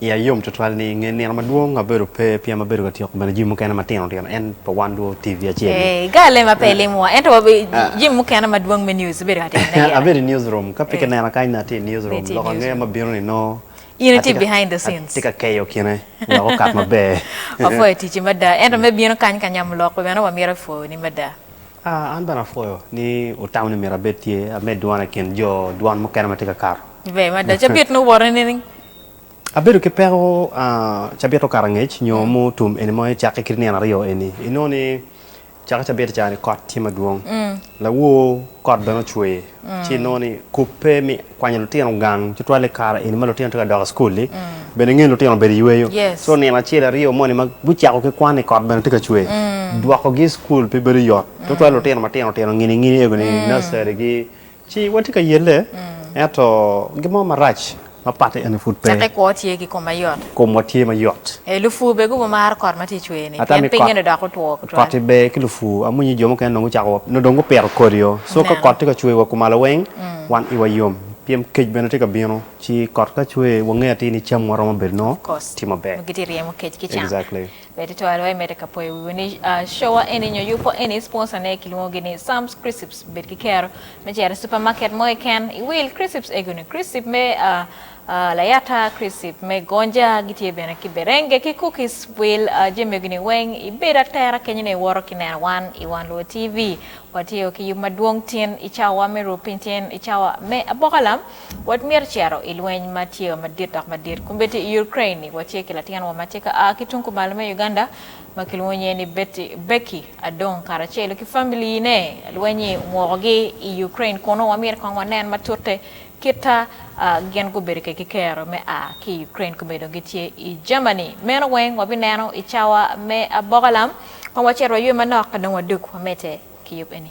Iya yom twatwal ni nge nino madwong abedo pe pien abedo ka tyeko bene jami mukene matino tino en pa wan dwo TV acel ni. Ee, ga alem ape ilimowa, ento wabe jami mukene madwong me news ibedo ka timo ne gire. Abedo i news room, ka pe ki nena kany ni atye i news room, lok ange ma bino ni nongo In itye behind the scenes. atye ka keyo kine wek okat maber. Wapwoyo ticci mada, ento me bino kany ka nyamo lok pe bene wamito epwoni mada. Aa, an bene apwoyo ni wutamo ni myero abed tye, amed dwona i kin jo dwan mukene ma tye ka kato. Ber mada, cabit ni owoto nining? Abedo ki peko cabito karangec nyo mo tum eni ma ecakke kit nino aryo eni. Inongo ni cako cabit ca ni kot tye madwong, lawor kot bene ocwer ci inongo ni kubbe me kwanyo lutino gang tutwal i kare eni ma lutino tye ka dok i cukul-li bene ngeyo ni lutino obedo i yweyo. Co nino acel aryo moni ma gucako ki kwan-ni kot bene tye ka cwer dwokogi i cukul pe bedo yot tutwal lutino matino tino ngini ngini ego ni nursery ki Ci watye ka yelle, ento gin mo marac ma patte eni pud pe. Caka i kwo tye ki kom mayot. Komwa tye mayot. Ee, lupur bene gubo maro kot ma tye i cwer-ni, Ata pien mi pinye-ni odoko otwo kot, tutwal. koti ber ki lupur. Amwonyo jo mukene dong gucako wa, nongo dong gupito kodi-o. So ka Meno. kot tye ka cwer wa kumalo weng, wan iwa yom, pien kec bene tye ka bino. Ci kot ka cwer, wangeyo atir ni camwa romo bedo nongo Of course. tye maber. Nongo gitye ka ryemo kec ki cam. Exactly. Bed twero aye medde ka poyo wiwa ni cowa eni nyo yubbo eni sponsor ne kilwongo gi ni Sam's Crisps. Bed ki kero me cito i super market mo keken iwil crisps ego ni, crisp me layata, crisp me gonja, gitye bene ki berenge ki cookies. Wil jami ego ni weng ibed atera kenyo ni iwoto ki neno wan i Wan Luo TV. Watye o ki yub madwong tin i cawa me ruu piny tin i cawa me abokalam. Watmyero cito i lweny ma tye wa madit dok madit kombeddi i Ukraine-ni. Watye ki latin wa ma tye ka a ki tung kumalo me Uganda ma kilwongo nyinge ni Betty, Becky, Adong karacelo ki famili-ne. Lweny-nyi omwokogi i Ukraine kunu. Wamyero kong wanen matute kita a gin gubedo ke ki kero me a ki i Ukraine kome dong gitye i Germany. Meno weng wabineno i cawa me aboka lam. Kong wacit waywe manok ka dong wadug wamedde ki yub eni.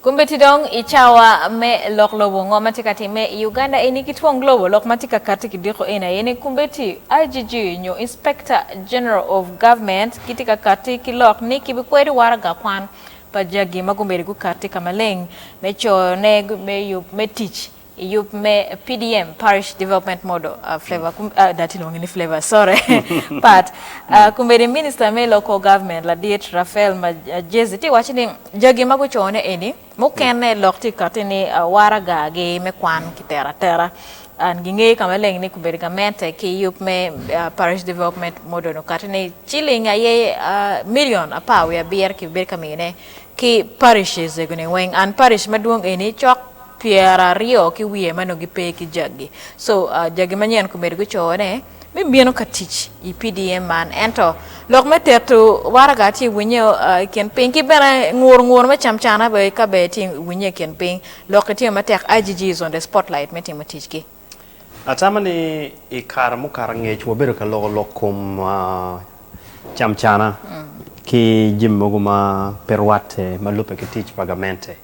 Kombeddi dong i cawa me lok lobo ngo ma tye ka timme i Uganda eni ki twong lobo? Lok ma tye ka katti ki diko eni aye ni kombeddi, IGG, nyo Inspector General of Government gitye ka katti ki lok ni kibikwedo waraga kwan pa jagi ma gumbedo gukatti ka maleng me coyone me yub me tic I yub me PDM, Parish Development Model, pat, Kombeddi Minista me Local Government ladit Raphael Magyezi tye waco ni jagi ma gucone eni mukene lok tye kati ni waraga gi me kwan ki tero atera and gi ngeyo ka maleng ni kombeddi gamente ki yub me Parish Development Model okati ni ciling aye million apar wiye abiro ki bedo ka miyone ki parishes egoni weng and parish madwong eni cok pyeraryo ki wiye ma nongo gipe ki jagi so jagi manyen komedo gucoyo ne me bino ka tic i PDM man ento lok me teto waraga ci iwinye i kin piny ki bene nguru nguru me cam cana bene ka bene ci iwinye i kin piny lok itimo matek IGG is on the spotlight me timo ticgi. Atamo ni i kare mukato angec wabedo ka loko lok kom camcana ki jami mogo ma pe rwatte ma lubbe ki tic pa gamente.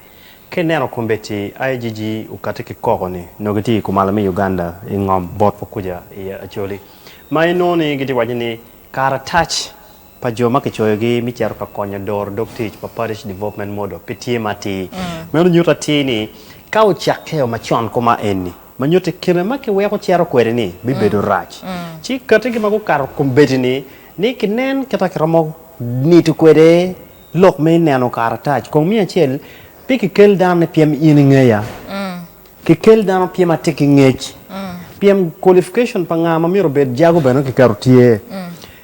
Ka ineno kombeddi IGG okati ki koko ni nongo gitye i kumalo me Uganda i ngom bot wa kuca i Acholi ma inongo ni gitye waco ni karatac pa jo ma kicoyogi me cito ka konyo doro dog tic pa Parish Development Model pe tye ma atir. Meno nyuto atir ni ka ocakkeo macon koma eni, ma nyutti kine ma kiweko cito kwede-ni bibedo rac, ci kati ki ma gukato kombeddi-ni ni kinen kit ma kiromo nito kwede lok me neno karatac. Kong miya acel, Pe kikel dano ni pien in ingeya. Kikel dano pien atye ki ngec. Pien qualification pa nga ma myero obed jago bene kiketo tye.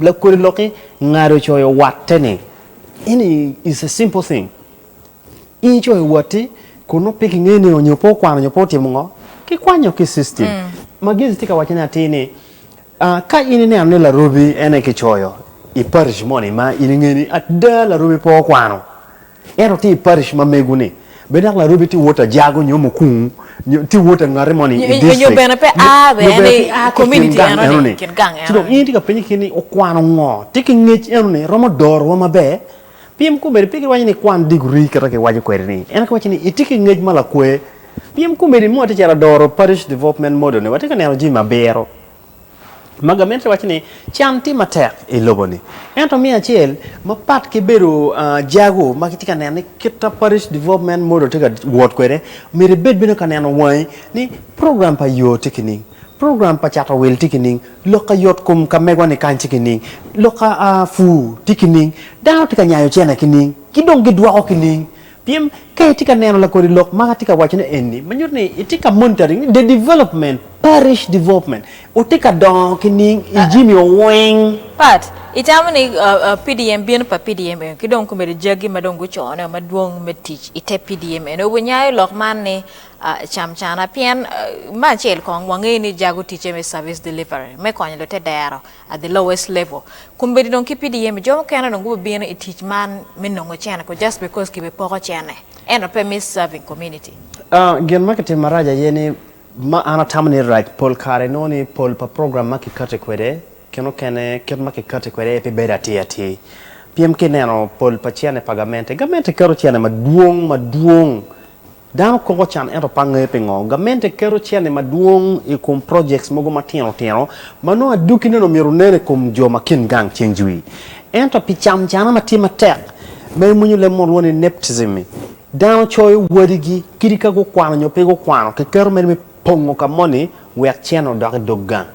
Lakodi lok-ki ngado coyo watte ni, Eni is a simple thing. In icoyo watti kun nongo pe kingeyo ni onyo pe okwano onyo pe otimo ngo, kikwanyo ki system. Magezi tye ka wacce ni atir ni, ka in ineno ni larobi en aye kicoyo i parish moni ma in ingeyo ni ada larobi pe okwano, En otye i parish ma mego-ni. Bed dok larobi tye wot ajago nyo mukung, nyo tye wot angati moni i district. Nyo bene pe a bene i community enoni, kit gang enoni. Ci dong in itye ka penye kit ni okwano ngo? Tye ki ngec enoni romo dorowa maber? Pien komedi pe giwaco ni ikwan degree kit ma kiwaco kwede-ni. Ento kiwaco ni itye ki ngec ma lakwe. Pien komedi mot ticalo adoro parish development model-ni, watye ka neno jami ma biro. Magomenti waco ni, Can tye matek i lobo-ni. Ento miyo acel, mapat ki bedo jago ma kitye ka neno ni kita Parish Development Model tye ka wot kwede, myero ibed bene ka neno wangi ni program pa yo tye kining, program pa cato wil tye kining, lok ka yotkom ka megwa-ni kany tye kining, lok ka pur tye kining, dano tye ka nyayo cene kining, ki dong gidwoko kining. Pien, ka itye ka neno lakodi lok ma atye ka wacone eni, ma nyuto ni itye ka monitoring ni the development, parish development, otye ka dongo ki ning i jimi oweng. Pat, Itamo ni PDM, bino pa PDM eno, ki dong komedo jagi ma dong guconeo madwong me tic i te PDM eno, winyayo lok man ni cam cana. Pien, me acel kong, wangeyo ni jago ticce me service delivery, me konyo lute dero. at the lowest level kombeddi dong ki PDM jo mukene dong gubibino i tic man me nongo cene ko just because kibe poko cene ento pe me serving community. Gin ma kitimo marac aye ni ma an atamo ni rac pol kare inongo ni pol pa program ma kikati kwede kin okene kit ma kikati kwede aye pe bedo atir atir pien ka ineno pol pa cene pa gamente, gamente keto cene madwong madwong. Dano koko can ento pe angeyo pingo. Gamente keto cente madwong i kom projects mogo matino tino ma nongo adwogine-ni omyero onen i kom jo ma kin gang ceng jwi. Ento pi cam cana ma tye matek ma emwonyo leb mo lwongo ni nepotism-mi, dano coyo wadigi kit ka gukwano nyo pe gukwano, kiketo mere me. pongo ka moni wek cene odok i dog gang.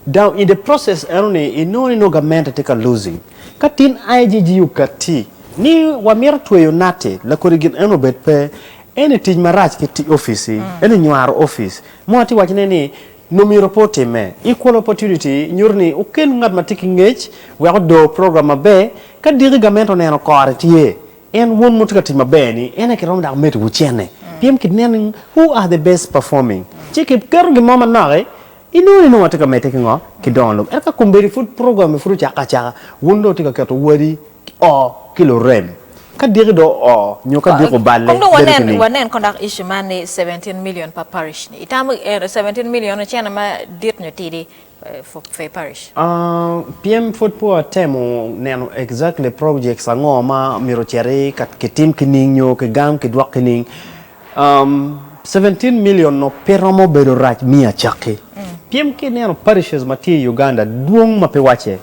Now in the process eno ni inongo ni nongo gamente tye ka losing. Ka tin IGG okatti ni wamito tweyo Natti lakodi gin eno obed pe, eno ni tic marac ki tic office-ci, eno ni nywaro office. Mo atye ka wacone ni nongo myero pe otimme. Equal opportunity nyuto ni okel ngat ma tye ki ngec wek odor program maber ka diki gamente oneno kore tye En wun wutye ka tic maber ni en aye kiromo dok medo wucenne pien kineno ni who are the best performing ci kiketo gin mo manok i inongo ni nongo watye ka medde ki ngo ki dongo lobo ento ka kombeddi pud program ni pud ocake acaka wun dong wutye ka keto wadi o ki lurem ka diki dong o nyo ka diki oballe bedo ki ning. Kong wanen kong dok issue man ni seventeen million pa parish ni itamo seventeen million ocene madit nyo tidi for Fair Parish. Pien pwod pe watemo neno exactly projects ango ma myero ocit ki tim ki ning nyo ki gam ki dwok ki ning. Seventeen million no pe romo bedo rac me acakki. Pien ki neno parishes ma tye i Uganda dwong ma pe wacce.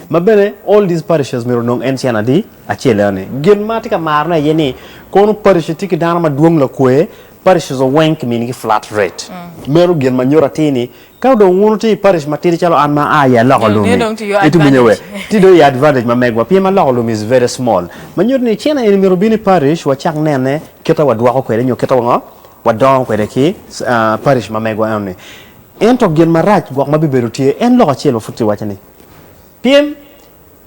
Ma bene all these parishes myero onong en cen adi acel eno ni. Gin ma atye ka maro ne aye ni kono parish tye ki dano ma dwong lakwe, parishes oweng ki mini gi flat rate. Meno gin ma nyuto atir ni Ka dong wun wutye i parish matidi calo an ma aa i aloko lum-mi, ituminyo we. Tye dong i advantage ma megwa pien aloko lum is very small. Ma nyuto ni cene eni myero obin i parish wacak nene kite wadwoko kwede nyo kite wango wadongo kwede ki parish ma megwa enoni. Ento gin marac gwok ma bibedo tye en lok acel ma pud kiwaco ni pien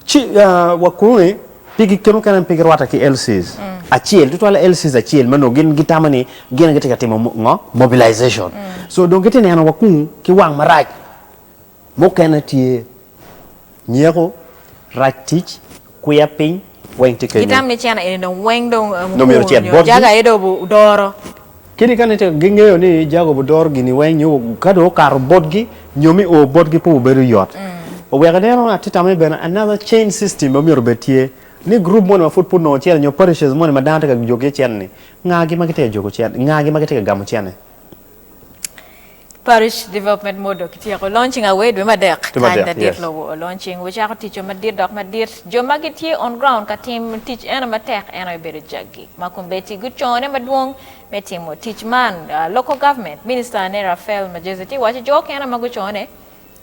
Ci wa kuni, pigi kema kene pe girwatte ki LCs acel, tutwale LCs acel ma nongo gin gitamo ni gin aye gitye ka timo ngo? Mobilization. So dong gitye ka neno wa kunu ki wang marac. Mukene tye nyeko, rac tic, kwiya piny, weng tye kenyo. Gitamo ni cene eni dong weng dong mukuru nyo jaga aye dong odoro. Kadi ka ne tek gingeyo ni Jacob odoro gini weng nyo ka dong okato botgi nyo me o botgi pe obedo yot. Oweko ineno, atye tamo ni bene another chain system bene myero obed tye, ni group moni ma pud pe onongo cene nyo parishes moni ma dano tye ka jogi iye cene-ni, ngagi ma gitye ka jogo cene, ngagi ma gitye ka gamo cene? Parish Development Model kityeko launching aware dwe me adek Dwe me kany adek, madit yes. lobo o launching we cako ticce madit dok madit jo ma gitye on ground ka tim tic eno matek eno aye bedo jaggi ma Combeti gucone madwong me timo tic man Local Government Minister ne Raphael Magyezi tye waco jo okene ma gucone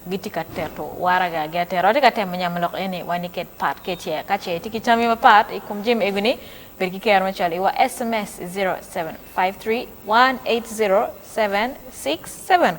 gitye ka tito waragagi atera. Watye ka temo nyamo lok eni wa niket part kece. Ka ce itye ki tammi mapat i kom jami egoni, bed ki kero me cwalo iwa sms i 0753 180 767.